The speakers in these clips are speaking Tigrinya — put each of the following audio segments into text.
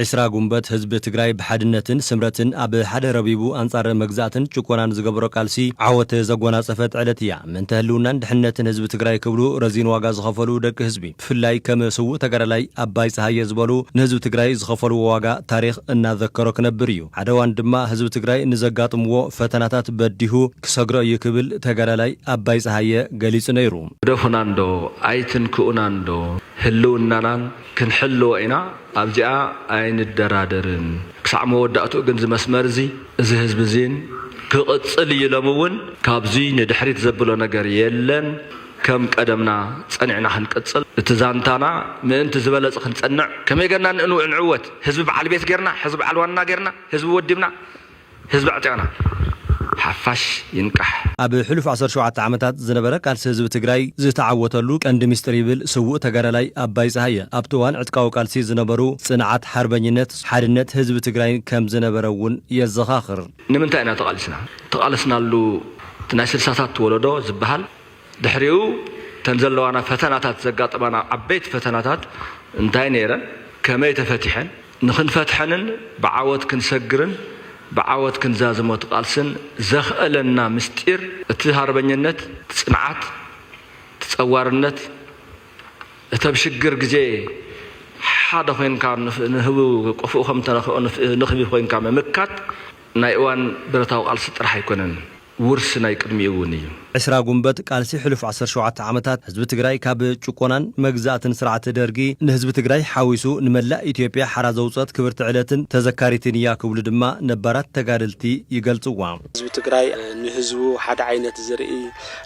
ዕስራ ጉንበት ህዝቢ ትግራይ ብሓድነትን ስምረትን ኣብ ሓደ ረቢቡ ኣንጻር መግዛእትን ጭቆናን ዝገበሮ ቃልሲ ዓወት ዘጎናጸፈት ዕለት እያ። ምእንተ ህልውናን ድሕነትን ህዝቢ ትግራይ ክብሉ ረዚን ዋጋ ዝኸፈሉ ደቂ ህዝቢ ብፍላይ ከም ስዉእ ተጋዳላይ ኣባይ ጸሃየ ዝበሉ ንህዝቢ ትግራይ ዝኸፈልዎ ዋጋ ታሪኽ እናዘከሮ ክነብር እዩ። ሓደ እዋን ድማ ህዝቢ ትግራይ ንዘጋጥምዎ ፈተናታት በዲሁ ክሰግሮ እዩ ክብል ተጋዳላይ ኣባይ ጸሃየ ገሊጹ ነይሩ። ግደፉና እንዶ ኣይትንክኡና እንዶ ህልውናናን ክንሕልዎ ኢና ኣብዚኣ ኣይንደራደርን ክሳዕ መወዳእትኡ ግን እዚ መስመር እዚ እዚ ህዝቢ እዚን ክቕፅል እዩ ኢሎም እውን ካብዙይ ንድሕሪት ዘብሎ ነገር የለን ከም ቀደምና ፀኒዕና ክንቅፅል እቲ ዛንታና ምእንቲ ዝበለፅ ክንፀንዕ ከመይ ገርና ንዕወት ህዝቢ በዓል ቤት ገርና ህዝቢ በዓል ዋና ገርና ህዝቢ ወዲብና ህዝቢ ኣዕጢቕና! ሓፋሽ ይንቃሕ! ኣብ ሕሉፍ ዓሰርተ ሸውዓተ ዓመታት ዝነበረ ቃልሲ ህዝቢ ትግራይ ዝተዓወተሉ ቀንዲ ሚስጢር ይብል ስዉእ ተጋዳላይ ኣባይ ፀሃየ ኣብቲ እዋን ዕጥቃዊ ቃልሲ ዝነበሩ ፅንዓት ሓርበኝነት ሓድነት ህዝቢ ትግራይን ከምዝነበረ እውን የዘኻኽር። ንምንታይ ኢና ተቓሊስና? ተቓለስናሉ እቲ ናይ ስልሳታት ወለዶ ዝበሃል ድሕሪኡ እተን ዘለዋና ፈተናታት ዘጋጠማና ዓበይቲ ፈተናታት እንታይ ነይረን? ከመይ ተፈቲሐን? ንኽንፈትሐንን ብዓወት ክንሰግርን ብዓወት ክንዛዝሞ እቲ ቃልስን ዘኽእለና ምስጢር እቲ ሃርበኝነት እቲ ጽንዓት እቲ ጸዋርነት እቲ ኣብ ሽግር ግዜ ሓደ ኮይንካ ንህቡ ቆፎኡ ከምተነኽኦ ንኽቢ ኮይንካ ምምካት ናይ እዋን ብረታዊ ቃልሲ ጥራሕ ኣይኮነን። ውርሲ ናይ ቅድሚኡ እውን እዩ። ዕስራ ጉንበት ቃልሲ ሕሉፍ ዓሰርተ ሸውዓተ ዓመታት ህዝቢ ትግራይ ካብ ጭቆናን መግዛእትን ስርዓት ደርጊ ንህዝቢ ትግራይ ሓዊሱ ንመላእ ኢትዮጵያ ሓራ ዘውፀት ክብርቲ ዕለትን ተዘካሪትን እያ ክብሉ ድማ ነባራት ተጋደልቲ ይገልፅዋ። ህዝቢ ትግራይ ንህዝቡ ሓደ ዓይነት ዝርኢ፣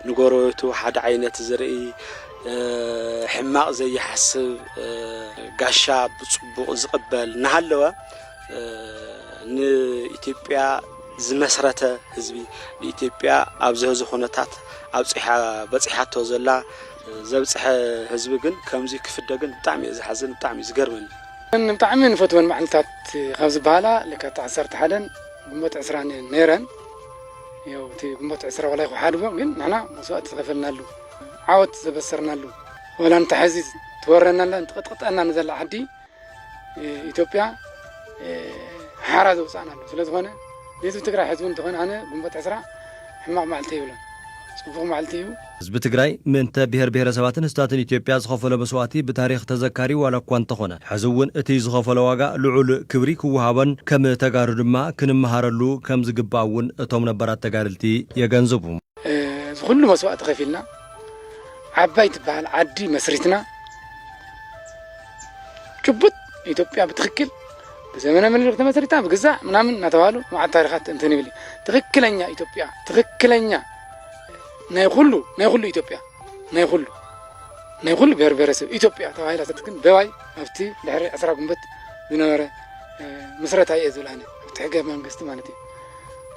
ንጎረቤቱ ሓደ ዓይነት ዝርኢ፣ ሕማቕ ዘይሓስብ፣ ጋሻ ብፅቡቕ ዝቕበል እናሃለወ፣ ንኢትዮጵያ ዝመስረተ ህዝቢ ንኢትዮጵያ ኣብዚ ሕዚ ኩነታት ኣብፅሓ በፂሓቶ ዘላ ዘብፅሐ ህዝቢ ግን ከምዚ ክፍደ ግን ብጣዕሚ እየ ዝሓዝን ብጣዕሚ እዩ ዝገርመኒ ብጣዕሚ ንፈትወን መዓልትታት ካብ ዝበሃላ ለካቲት ዓሰርተ ሓደን ግንቦት ዕስራን እየን ነይረን ያው እቲ ግንቦት ዕስራ ዋላ ይኩሓድጎ ግን ንሕና መስዋእቲ ዝኸፈልናሉ ዓወት ዘበሰርናሉ ዋላ እንተ ሕዚ ትወረናላ ትቕጥቅጠና ንዘላ ዓዲ ኢትዮጵያ ሓራ ዘውፅኣና ኣሎ ስለዝኾነ ህዝቢ ትግራይ ሕዚ እውን እንተኾነ ኣነ ግንቦት ዕስራ ሕማቕ መዓልቲ የብሎን ፅቡቕ መዓልቲ እዩ ህዝቢ ትግራይ ምእንተ ብሄር ብሄረሰባትን ህዝብታትን ኢትዮጵያ ዝኸፈሎ መስዋእቲ ብታሪኽ ተዘካሪ ዋላ እኳ እንተኾነ ሕዚ እውን እቲ ዝኸፈሎ ዋጋ ልዑል ክብሪ ክወሃቦን ከም ተጋሩ ድማ ክንመሃረሉ ከም ዝግባእ እውን እቶም ነባራት ተጋደልቲ የገንዝቡ። እዚ ኹሉ መስዋእቲ ከፊልና ዓባይ ትበሃል ዓዲ መስሪትና ጭቡጥ ኢትዮጵያ ብትኽክል ብዘመነ ምኒልክ ተመስሪታ ብግዛእ ምናምን እናተባህሉ መዓት ታሪኻት እንትን ይብል ትኽክለኛ ኢትዮጵያ ትኽክለኛ ናይ ኩሉ ናይ ኩሉ ኢትዮጵያ ናይ ኩሉ ናይ ኩሉ ብሔር ብሔረሰብ ኢትዮጵያ ተባሂላ ተትክን በባይ ኣብቲ ድሕሪ ዕስራ ጉንበት ዝነበረ ምስረታ እየ ዝብል ኣነ ኣብቲ ሕገ መንግስቲ ማለት እዩ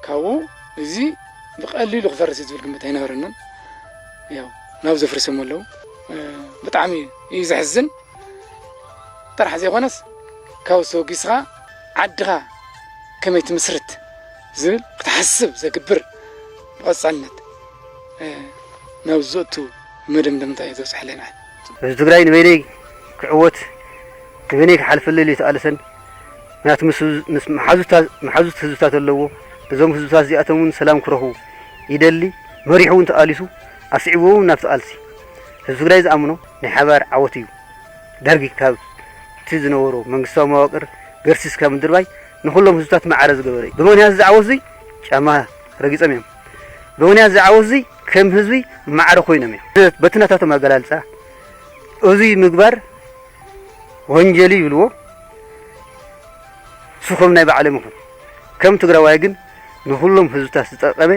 ካብኡ እዚ ብቀሊሉ ክፈርስ እዩ ዝብል ግምት ኣይነበረንን ያው ናብ ዘፍርሰም ኣለዉ ብጣዕሚ እዩ ዘሕዝን ጥራሕ ዘይኮነስ ካብኡ ተበጊስኻ ዓድኻ ከመይ ትምስርት ዝብል ክትሓስብ ዘግብር ብቐፃልነት ናብ ዘእቱ መደምደምታ እዩ ዘብፅሐለና ህዝቢ ትግራይ ንበይነይ ክዕወት ንበይነይ ክሓልፈለይ ኢሉ ኣይተቓለሰን ምክንያቱ ምስ መሓዙት ህዝብታት ኣለዎ እዞም ህዝብታት እዚኣቶም እውን ሰላም ክረኽቡ ይደሊ መሪሑ እውን ተቓሊሱ ኣስዒቡ እውን ናብቲ ቃልሲ ህዝቢ ትግራይ ዝኣምኖ ናይ ሓባር ዓወት እዩ፣ ደርጊ ካብቲ ዝነበሮ መንግስታዊ መዋቅር ገርሲስካ ምድርባይ ንኹሎም ህዝብታት ማዕረ ዝገበረ እዩ። ብምኽንያት እዚ ዓወት እዙይ ጫማ ረጊፆም እዮም። ብምኽንያት እዚ ዓወት እዙይ ከም ህዝቢ ማዕረ ኮይኖም እዮም። በቲ ናታቶም ኣገላልፃ እዙይ ምግባር ወንጀል ይብልዎ ስኹም ናይ ባዕሎም ይኹን ከም ትግራዋይ ግን ንኹሎም ህዝብታት ዝጠቀመ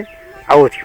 ዓወት እዩ።